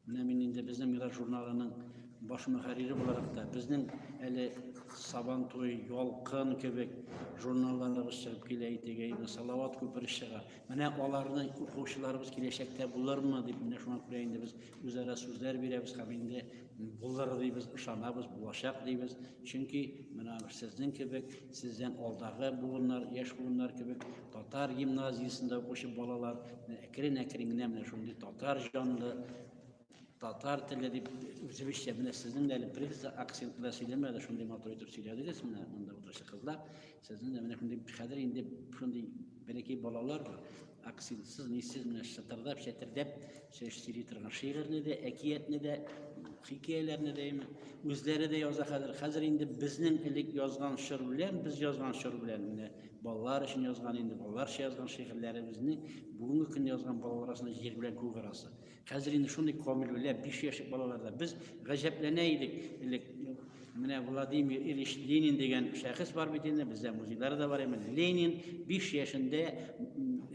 Менә мин инде безнең Мирас журналының баш мөхәррире буларак та, безнең әле Сабан туй, Ялкын кебек журналларыбыз чыгып килә итеге, инде Салават күпере чыга. Менә аларны укучыларыбыз киләчәктә булырмы дип, менә шуңа күрә инде без үзара сүзләр бирәбез һәм инде булыр дибез, ышанабыз, булачак дибез. Чөнки менә сезнең кебек Сездән алдагы буыннар, яшь буыннар кебек татар гимназиясендә укучы балалар әкрен-әкрен генә менә шундый татар җанлы, татар теле дип үзебезчә менә сезнең дә әле приза акцент белән сөйләмәде, шундый матур итеп сөйләдегез менә монда утыручы кызлар. Сезнең дә менә шундый хәзер инде шундый бәләкәй балалар бар. акцентсыз нисез менә шытырдап чәтердәп шеш сөйли торган шигырьне дә әкиятне дә хикәяләрне дә үзләре дә яза хәзер хәзер инде безнең элек язган шыр белән без язган шыр белән менә балалар өчен язган инде балаларча язган шигырьләребезне бүгенге көн язган балалар арасында җир белән күк арасы Хәзер инде шундый камилүлә, биш яшек балаларда. Без гаҗәпләнә идек. Элек менә Владимир Ильич Ленин дигән шәхес бар бит инде, бездә музейлары да бар. Менә Ленин 5 яшендә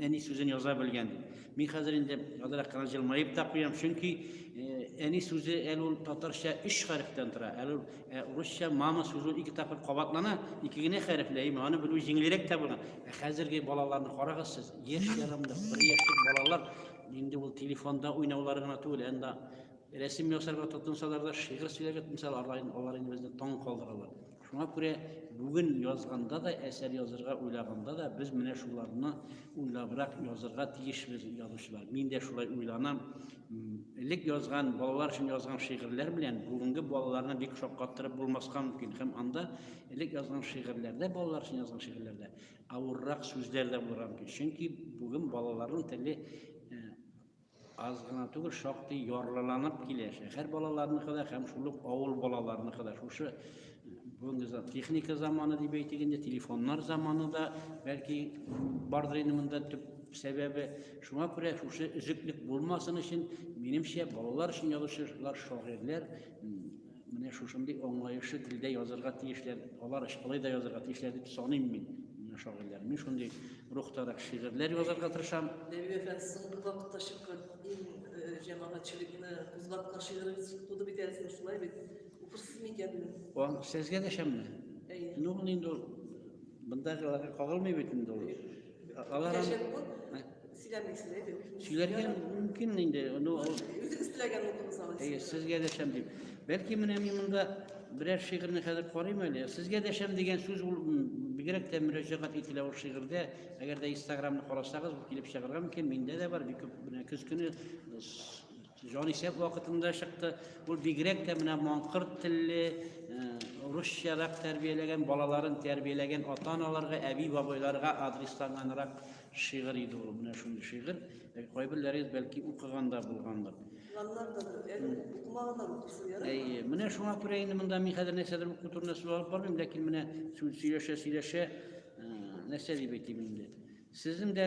әни сүзен яза белгән. Мин хәзер инде азрак кына җылмаеп та куям, чөнки э, әни сүзе әле ул татарча 3 хәрефтән тора. Әле э, русча мама сүзе ике тапкыр кабатлана, ике генә хәрефле. Аны белү җиңелрәк тә була. Ә хәзерге балаларны карагыз сез, яшь ярамда, бер яшьлек балалар инде ул телефонда уйнаулар гына түгел, әнда рәсем ясарга тотынсалар да, шигырь сөйләргә тотынсалар, алар инде безне таң калдыралар. Шуңа күрә бүген язганда да, әсәр язырга уйлаганда да без менә шуларны уйлабрак язырга тиешбез, язучылар. Мин дә шулай уйланам. Элек язган, балалар өчен язган шигырьләр белән бүгенге балаларны бик шаккаттырып булмаска мөмкин. Һәм анда элек язган шигырьләрдә, балалар өчен язган шигырьләрдә Авыррак сүзләр дә булырга мөмкин. Чөнки бүген балаларның теле э, аз гына түгел, шактый ярлыланып килә. Шәһәр балаларыныкы да һәм шул ук авыл балаларыныкы да шушы бүгенге за- техника заманы дип әйтик инде, телефоннар заманы да бәлки бардыр инде монда төп сәбәбе. Шуңа күрә шушы өзеклек булмасын өчен, минемчә, балалар өчен язучылар, шагыйрьләр м, Менә шушындый аңлаешлы телдә язырга тиешләр, алар шулай да язырга тиешләр дип саныйм мин. Менә шагыйрьләр. Мин шундый рухтарак шигырьләр язарга тырышам. Нәби әфәнд соңгы вакытта чыккан иң э, җәмәгатьчелекне кузгаткан шигырегез туды бит әле шулай бит. Укырсыз микән? Ан сезгә дәшәмме? Әйе. Ну, инде бындагыларга кагылмый бит инде ул. Алар Кәшән бу сөйләмисез әйт. Сөйләргә мөмкин инде. Ну, үзегез теләгән булдыгыз алар. Әйе, сезгә дәшәм дип. Бәлки менә мин монда берәр шигырьне хәзер карыйм әле. Сезгә дәшәм дигән сүз ул бигрәк тә мөрәҗәгать ителә ул шигырьдә. Әгәр дә Инстаграмны карасагыз, килеп чыгарга мөмкин. Миндә дә бар бик күп. Менә көз көне Җанисәп вакытында чыкты. Ул бигрәк тә менә маңкырт телле, э, русчарак тәрбияләгән балаларын тәрбияләгән ата-аналарга, әби-бабайларга адресланганрак шигырь иде ул. Менә шундый шигырь. Э, кайберләрегез бәлки укыганда булгандыр. Әйе, менә шуңа күрә инде монда мин хәзер нәрсәдер уку турында сүз алып бармыйм, ләкин менә сүз сөйләшә сөйләшә нәрсә дип әйтим инде. Сезнең дә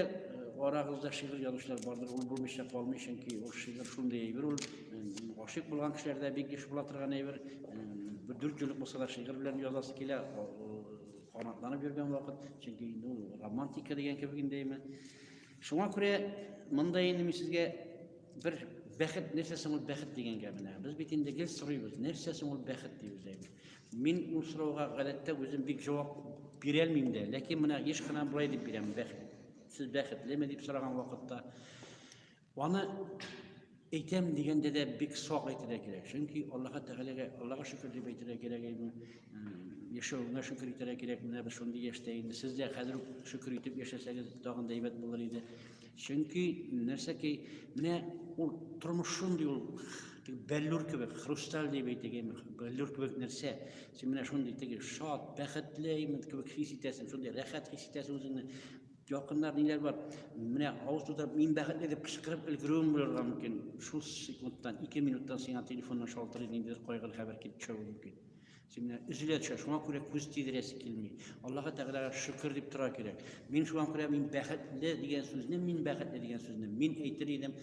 арагызда шигырь язучылар бардыр, ул булмыйча калмый, чөнки ул шигырь шундый әйбер, ул гашыйк булган кешеләрдә бик еш була торган әйбер. Бер дүрт еллык булса да шигырь белән язасы килә, канатланып йөргән вакыт, чөнки инде ул романтика дигән кебек инде әйме. Шуңа күрә монда инде мин сезгә бер бәхет, нәрсә соң ул бәхет дигәнгә менә. Без бит инде гел сорыйбыз, нәрсә соң ул бәхет дип үзәйбез. Мин ул сорауга гадәттә үзем бик җавап бирә алмыйм да, ләкин менә еш кына болай дип бирәм, бәхет. Сез бәхетлеме дип сораган вакытта аны әйтәм дигәндә дә бик сак әйтергә кирәк. Чөнки Аллаһ Тәгаләгә, Аллаһка шөкер дип әйтергә кирәк инде. Яшәвеңә шөкер итәргә кирәк. Менә без шундый яшьтә инде. Сез дә хәзер шөкер итеп яшәсәгез, тагын да әйбәт булыр иде. Чөнки нәрсә ки, менә ул тормыш шундый ул бәллүр кебек, хрусталь дип әйтик, әйме, бәллүр кебек нәрсә. Син менә шундый теге шат, бәхетле әйме кебек хис итәсең, шундый рәхәт хис итәсең үзеңне. Якыннар ниләр бар? Менә авыз тутырып, мин бәхетле дип кычкырып өлгерүең булырга мөмкин. Шул секундтан, ике минуттан сиңа телефоннан шалтырый, ниндидер кайгылы хәбәр килеп төшә мөмкин. Сине өзелә төшә, шуңа күрә күз тидерәсе килми. Аллаһы Тәгаләгә шөкер дип тора кирәк. Мин шуңа күрә мин бәхетле дигән сүзне, мин бәхетле дигән сүзне мин әйтер идем.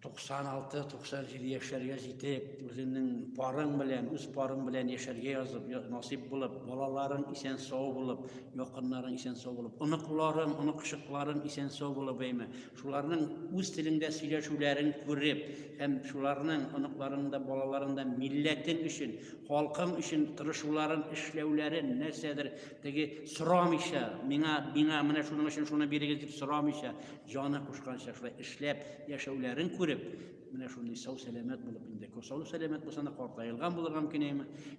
96-97 яшьләргә җитеп, үзеңнең парың белән, үз парың белән яшәргә язып, насип булып, балаларың исән-сау булып, якыннарың исән-сау булып, оныкларың, оныкчыкларың исән-сау булып, әйме, Шуларның үз телеңдә сөйләшүләрен күреп һәм шуларның оныкларының да, балаларының да милләтең өчен, халкың өчен тырышуларын, эшләүләрен, нәрсәдер теге сорамыйча, миңа, миңа менә шуның өчен шуны бирегез дип сорамыйча, җаны кушканча шулай эшләп яшәүләрен күреп, менә шундый сау-сәламәт булып инде, сау-сәламәт булсаң да картаелган булырга мөмкин, әйеме?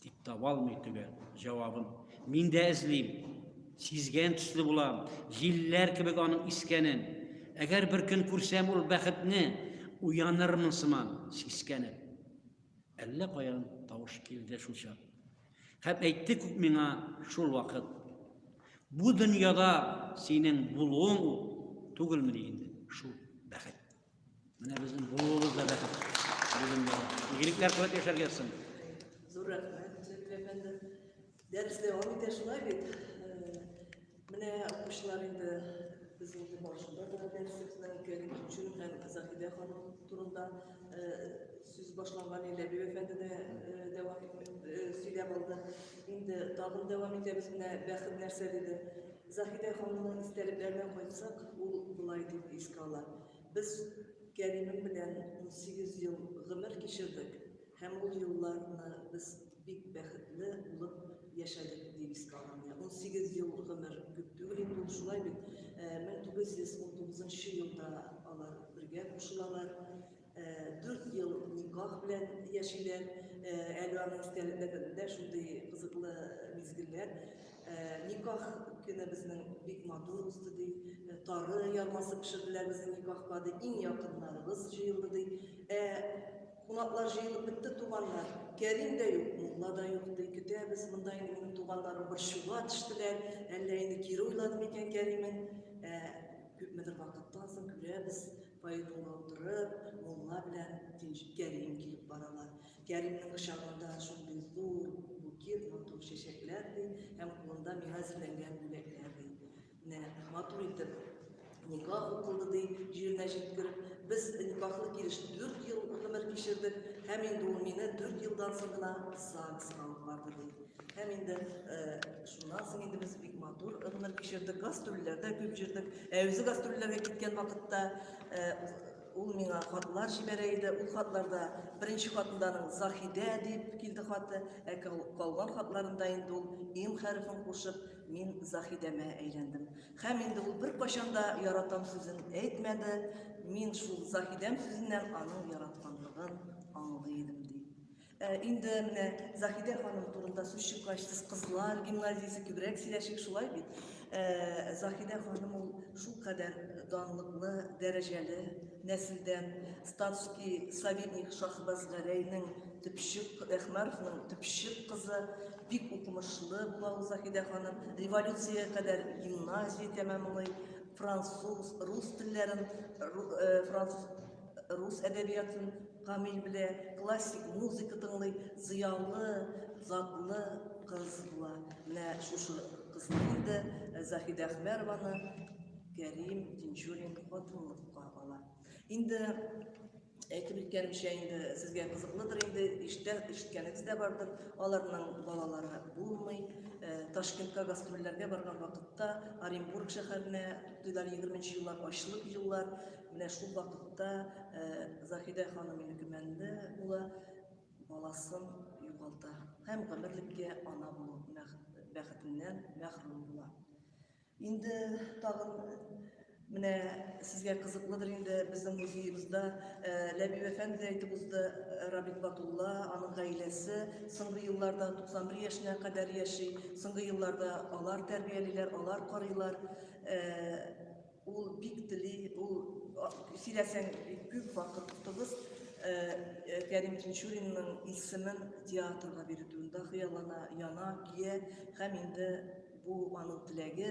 Дип таба алмый төгәл җавабын. Мин дә эзлим. Сизгән төсле булам. Җилләр кебек аның искәнен. Әгәр бер көн күрсәм ул бәхетне, уянырмын сыман, сискәнеп. Әллә каян тавыш килде шул чак. Һәм әйтте күк миңа шул вакыт. Бу дөньяда синең булуың ул түгелмени инде шул бәхет. Менә безнең булуыбыз да бәхет. Игелекләр кылып яшәргә язсын. Зур рәхмәт, Зәбил әфәнде. Дәрес дәвам итә шулай бит. Э, менә укучылар инде безнең инде барышында да дәресебезнең керген өчен һәм Заһидә ханым турында э, сүз башланган иде. Ләбиб әфәнде дә э, дәвам сөйләп алды. Инде тагын дәвам итәбез менә бәхет нәрсә диде. Заһидә ханымның истәлекләренә кайтсак, ул болай дип искә ала, Без Кәримем белән унсигез ел гомер кичердек һәм ул елларны без бик бәхетле булып яшәдек, дип искә алам. Менә унсигез ел гомер күп түгел инде ул, шулай бит? Мең тугыз йөз унтугызынчы елда алар бергә кушылалар. Дүрт ел никах белән яшиләр. Әле аның истәлекләрендә шундый кызыклы мизгелләр. Никах көне безнең бик матур узды, ди. Тары ярмасы пешерделәр безнең никахка, ди. Иң якыннарыбыз җыелды, ди. Ә кунаклар җыелып бетте, туганнар. Кәрим дә юк, мулла да юк, ди. Көтәбез, монда инде минем туганнарым борчуга төштеләр. Әллә инде кире уйлады микән Кәримең? Ә күпмедер вакыттан соң күрәбез, Поэтны утырып, мулла белән Тинчү Кәрим килеп баралар. Кәримнең кочагында шундый зур букет, матур чәчәкләр ди, һәм кулында миңа зиләнгән бүләкләр ди. Менә матур итеп никах укылды ди, җиренә җиткереп. Без никахлы килеш дүрт ел гомер кичердек, һәм инде ул мине дүрт елдан соң гына ЗАГСка алып барды ди. Һәм инде шуннан соң инде без бик матур гомер кичердек, гастрольләрдә күп җөрдек. Ә үзе гастрольләргә киткән вакытта ул миңа хатлар җибәрә иде. Ул хатларда беренче хатынданың Заһидә дип килде хаты, ә калган хатларында инде ул им хәрефен кушып, мин Заһидәмә әйләндем. Һәм инде ул беркайчан да яратам сүзен әйтмәде. Мин шул Заһидәм сүзеннән аның яратканлыгын аңлый идем, ди. Э, инде менә заһидә ханым турында сүз чыккач сез кызлар гимназиясе күбрәк сөйләшик шулай бит э, заһидә ханым ул шулкадәр данлыклы дәрәҗәле нәселдән статский советник шахбаз гәрәйнең төпчек әхмәровның төпчек кызы бик укымышлы була ул заһидә ханым революциягә кадәр гимназия тәмамлый француз рус телләрен э, француз Рус әдәбиятын камил белә, классик музыка тыңлый, зыялы, затлы кыз була. Менә шушы кызны инде Заһидә Әхмәрованы Кәрим Тинчурин хатынлыкка ала. Инде әйтеп үткәнемчә инде сезгә кызыклыдыр инде иштә ишеткәнегез дә бардыр аларның балалары булмый э, ташкентка гастрольләргә барган вакытта оренбург шәһәренә туйлар егерменче еллар ачлык еллар Менә шул вакытта Заһидә ханым Илгимәнле улы баласын югалта һәм гомерлеккә ана булу бәхетеннән мәхрүм була. Инде тагын менә сезгә кызыклыдыр инде безнең музеебызда Ләби Вәфән дә әйтеп узды, Рабит Батулла, аның гаиләсе соңгы елларда 91 яшенә кадәр яши. Соңгы елларда алар тәрбиялиләр, алар карыйлар. Ул бик тели, ул сөйләсәң бик күп вакыт тотыгыз. Э, э, Кәрим Тинчуринның исемен театрга бирдүендә хыяллана, яна, кие һәм инде бу аның теләге,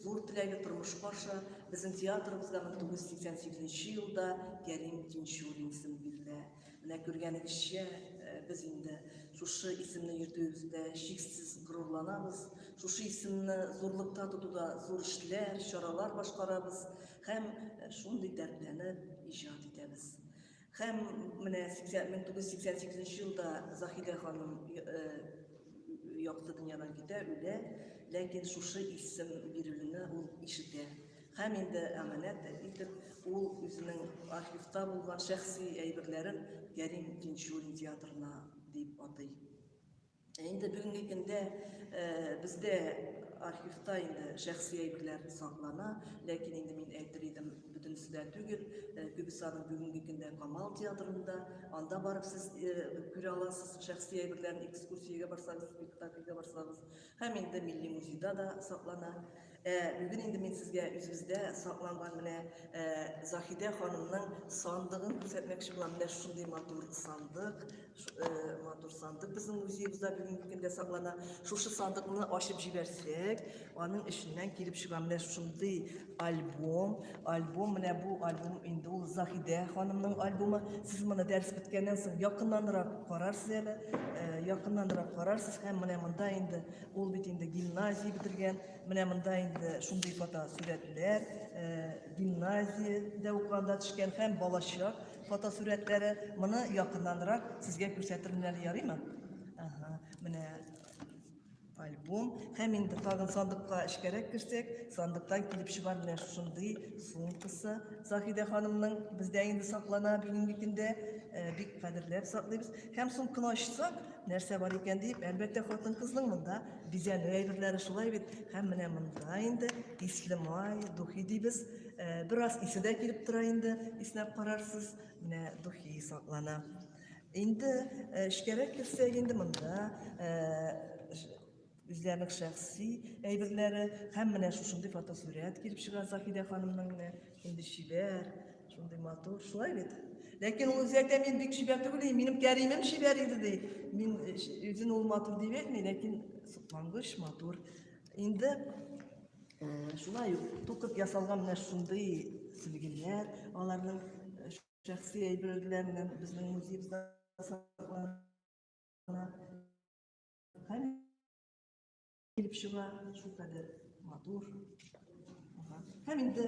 зур теләге тормышка аша. Безнең театрыбызда 1988 елда Кәрим Тинчурин исеме бирелә. Менә күргәнегезчә, э, без инде шушы исемне йөртүебездә чиксез горурланабыз. Шушы исемне зурлыкта тотуда зур эшләр, чаралар башкарабыз һәм э, шундый дәртләнеп иҗат итәбез. Һәм менә 1988 елда Заһидә ханым э, якты дөньядан китә, үлә, ләкин шушы исем бирелүне ул ишетә. Һәм инде әманәт итеп ул үзенең архивта булган шәхси әйберләрен Кәрим Тинчурин театрына дип атый. Ә инде бүгенге көндә бездә архивта инде шәхси әйберләр саклана, ләкин инде мин әйтер идем, бөтенесе дә түгел, күбесе аның бүгенге көндә Камал театрында, анда барып сез күрә аласыз шәхси әйберләрен экскурсиягә барсагыз, спектакльгә барсагыз, һәм инде милли музейда да саклана. Ә бүген инде мин сезгә үзебездә сакланган менә ә, Заһидә ханымның сандыгын күрсәтмәкче булам. Менә шундый матур сандык, ә, матур сандык безнең музеебызда бүгенге көндә саклана. Шушы сандыкны ачып җибәрсәк, аның эченнән килеп чыга менә шундый альбом. Альбом менә бу альбом инде ул Заһидә ханымның альбомы. Сез моны дәрес беткәннән соң якыннанрак карарсыз әле, ә, якыннанрак карарсыз һәм менә монда инде Ул бит инде гимназия бетергән. Менә монда инде шундый фото сурәтләр, гимназиядә укыганда төшкән һәм балачак фото сурәтләре. Моны якыннанрак сезгә күрсәтермен әле, ярыймы? Ага, менә альбом. Һәм инде тагын сандыкка эчкәрәк керсәк, сандыктан килеп чыга менә шундый сумкасы. Заһидә ханымның бездә инде саклана бүгенге көндә бик кадерләп саклыйбыз. Һәм сумканы ачсак, Нәрсә бар икән дип, әлбәттә, хатын-кызның монда бизәнү әйберләре шулай бит. Һәм менә монда инде исле май, духи дибез. Бераз исе дә килеп тора инде, иснәп карарсыз. Менә духи саклана. Инде эчкәрәк керсәк, инде монда Үзләренең шәхси әйберләре һәм менә шушындый фотосурәт килеп чыга Заһидә ханымның менә инде чибәр, шундый матур, шулай бит. Ләкин ул үзе әйтә, мин бик чибәр түгел, и, минем кәримем чибәр иде, ди. Мин э, үзен ул матур дип әйтми, ләкин соклангыч, матур. Инде э, шулай ук тукып ясалган менә шундый сөлгеләр, аларның э, шәхси әйберләреннән безнең музейбызда саклана. килеп чыга, шул кадәр матур. Һәм инде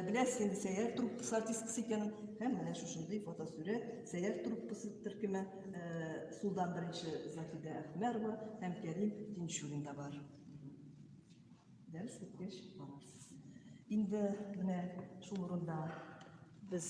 беләсез инде сәяр труппасы артисткасы икәнен, һәм менә шушындый фотосурәт сәяр труппасы төркеме сулдан беренче Заһидә Әхмәрова һәм Кәрим Тинчурин да бар. Дәрес беткәч барырсыз. Инде менә шул урында без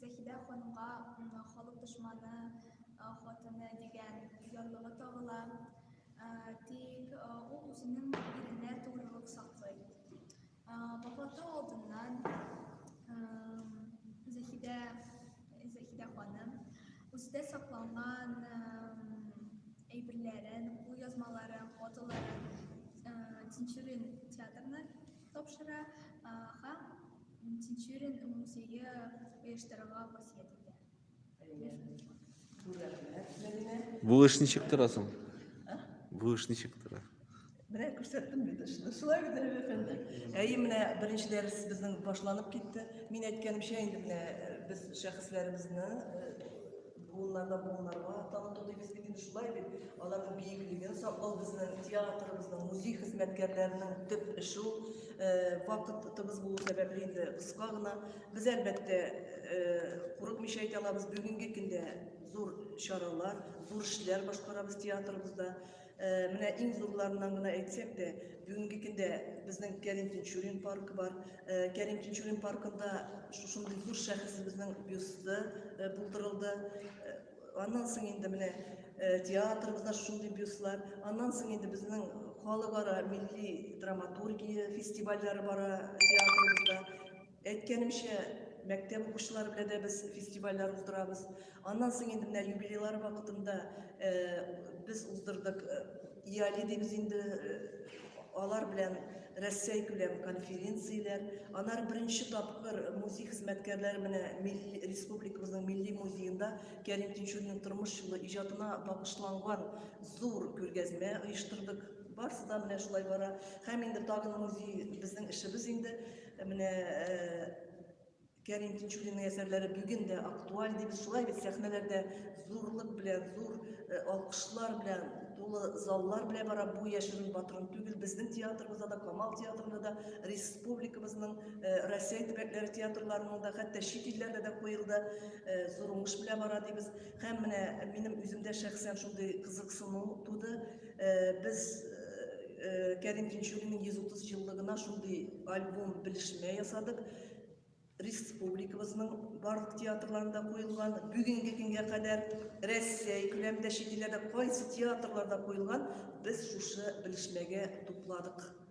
Заһидә ханымга халык дошманы хатыны дигән ярлыгы тагыла. Тик ул үзенең иренә тугрылык саклый. Вафаты алдыннан Заһидә Заһидә ханым үзендә сакланган әйберләрен, кулъязмаларын, фотоларын Тинчурин театрына тапшыра һәм Тинчурин музее оештырырга васыять итә. Бу эш ничек тора соң? Бу эш ничек тора? Менә күрсәттем бит эшне. Шулай бит әле әфәнде. Әйе, менә беренче дәрес безнең башланып китте. Мин әйткәнемчә, инде менә э, без шәхесләребезне э, Буыннарда буыннарга тагын тотыйбыз бит инде шулай бит. Аларның биеклеген саклау безнең театрыбызның, музей хезмәткәрләренең төп эше ул. Вакытыбыз булу сәбәпле инде кыска гына. Без әлбәттә курыкмыйча әйтә алабыз, бүгенге көндә зур чаралар, зур эшләр башкарабыз театрыбызда. Менә иң зурларыннан гына әйтсәк тә, бүгенге көндә безнең Кәрим Тинчурин паркы бар. Кәрим Тинчурин паркында шушындый зур шәхесебезнең бюсты булдырылды. Аннан соң инде менә театрыбызда шушындый бюстлар. Аннан соң инде безнең халыкара милли драматургия фестивальләре бара театрыбызда. Әйткәнемчә, мәктәп укучылары белән дә без фестивальләр уздырабыз. Аннан соң инде менә юбилейлар вакытында без уздырдык. Иали дибез инде, алар белән Рәсәй күләм конференцияләр. Аннары беренче тапкыр музей хезмәткәрләре менә милли республикабызның милли музеенда Кәрим Тинчуринның тормыш юлы, иҗатына багышланган зур күргәзмә оештырдык. Барысы да менә шулай бара. Һәм инде тагын музей безнең эшебез инде. Ә менә Кәрим Тинчуринның әсәрләре бүген дә актуаль дип шулай бит сәхнәләрдә зурлык белән, зур э, алкышлар белән, тулы заллар белән бара бу яшерен батырын түгел. Безнең театрыбызда да, Камал театрында да, республикабызның э, Россия төбәкләре театрларында да, хәтта чит илләрдә дә куелды. Э, зур уңыш белән бара дибез. Һәм менә минем үземдә шәхсән шундый кызыксыну туды. Э, без э, э, Кәрим Тинчуринның 130 еллыгына шундый альбом белешмә ясадык. Республикабызның барлык театрларында куелган, бүгенге көнгә кадәр Россия күләмендә чит илләрдә кайсы театрларда куелган, без шушы белешмәгә тупладык.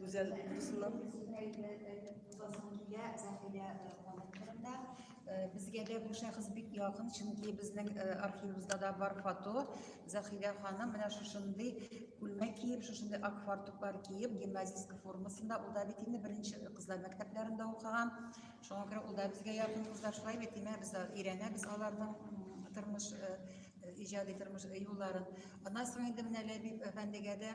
Гүзәл Дусуллов. Зәхилә, Зәхилә Мамытовында. Безгә дә бу шәхес бик якын, чөнки безнең архивыбызда да бар фото. Зәхилә ханым менә шушындый күлмәк киеп, шушындый ак фартуклар киеп, гимназистка формасында, ул да бит инде беренче кызлар мәктәпләрендә укыган. Шуңа күрә ул да безгә якын кызлар, шулай бит, димәк, без өйрәнәбез аларның тормыш иҗади тормыш юлларын. Аннан соң инде менә Ләбиб әфәндегә дә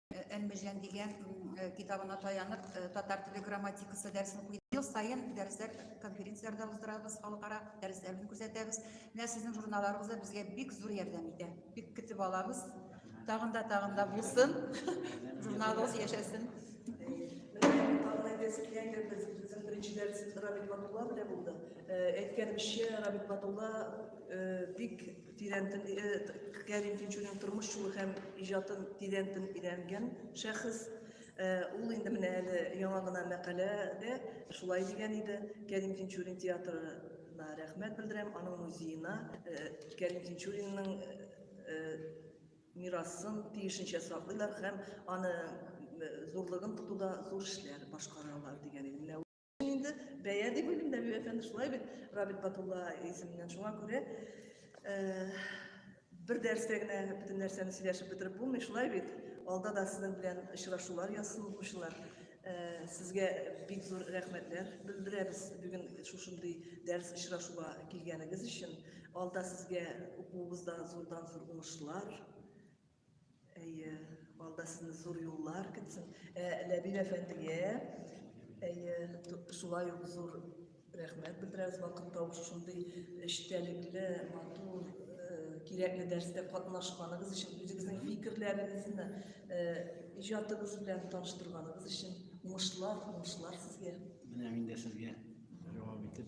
Әлмежән дигән китабына таянып, татар теле грамматикасы дәресен куйдым. Ел саен дәресләр конференцияләрдә уздырабыз, халыкара дәресләрне күрсәтәбез. Менә сезнең журналларыгыз да безгә бик зур ярдәм итә. Бик көтеп алабыз. Тагын да тагын да булсын. Журналыгыз яшәсен. Молодец, киләгез. Безнең беренче дәресебез Рабит Батулла белән булды. Әйткәнемчә, Рабит Батулла бик Тирән тел, э, Кәрим Тинчурин тормыш юлы һәм иҗатын тирән тел өйрәнгән шәхес. Э, ул инде менә әле яңа гына мәкаләдә шулай дигән иде. Кәрим Тинчурин театрына рәхмәт белдерәм, аның музеена э, Кәрим Тинчуринның э, мирасын тиешенчә саклыйлар һәм аны зурлыгын тотуда зур эшләр башкаралар дигән иде. инде бәя дип уйлыйм нәби әфәнде шулай бит рабит батулла исеменнән шуңа күрә э, бер дәрестә генә бөтен нәрсәне сөйләшеп бетереп булмый шулай бит алда да сезнең белән очрашулар язсын укучылар э, сезгә бик зур рәхмәтләр белдерәбез бүген шушындый дәрес очрашуга килгәнегез өчен алда сезгә укуыгызда зурдан зур уңышлар Әйе, алда сезне зур юллар көтсен. Ә, Ләбиб әфәндегә әйе, шулай ук зур рәхмәт белдерәбез. Вакыт тавышы шундый эчтәлекле, матур, э, кирәкле дәрестә катнашканыгыз өчен, үзегезнең фикерләрегезне, э, иҗатыгыз белән таныштырганыгыз өчен уңышлар, уңышлар сезгә. Менә мин дә сезгә дәвам итеп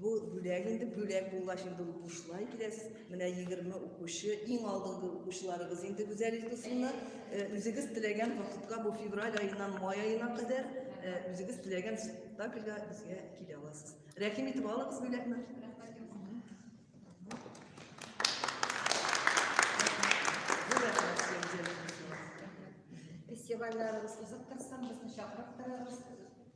Бу бүләк инде бүләк булгач инде ул бушлай киләс. Менә 20 укучы, иң алдынгы укучыларыбыз инде Гүзәл Илдусовна, э, үзегез теләгән вакытка бу февраль аеннан май аена кадәр э, үзегез теләгән спектакльгә безгә килә аласыз. Рәхим итеп алыгыз бүләкне. Фестивальләребез кызык торсын, безне чакырып торыгыз.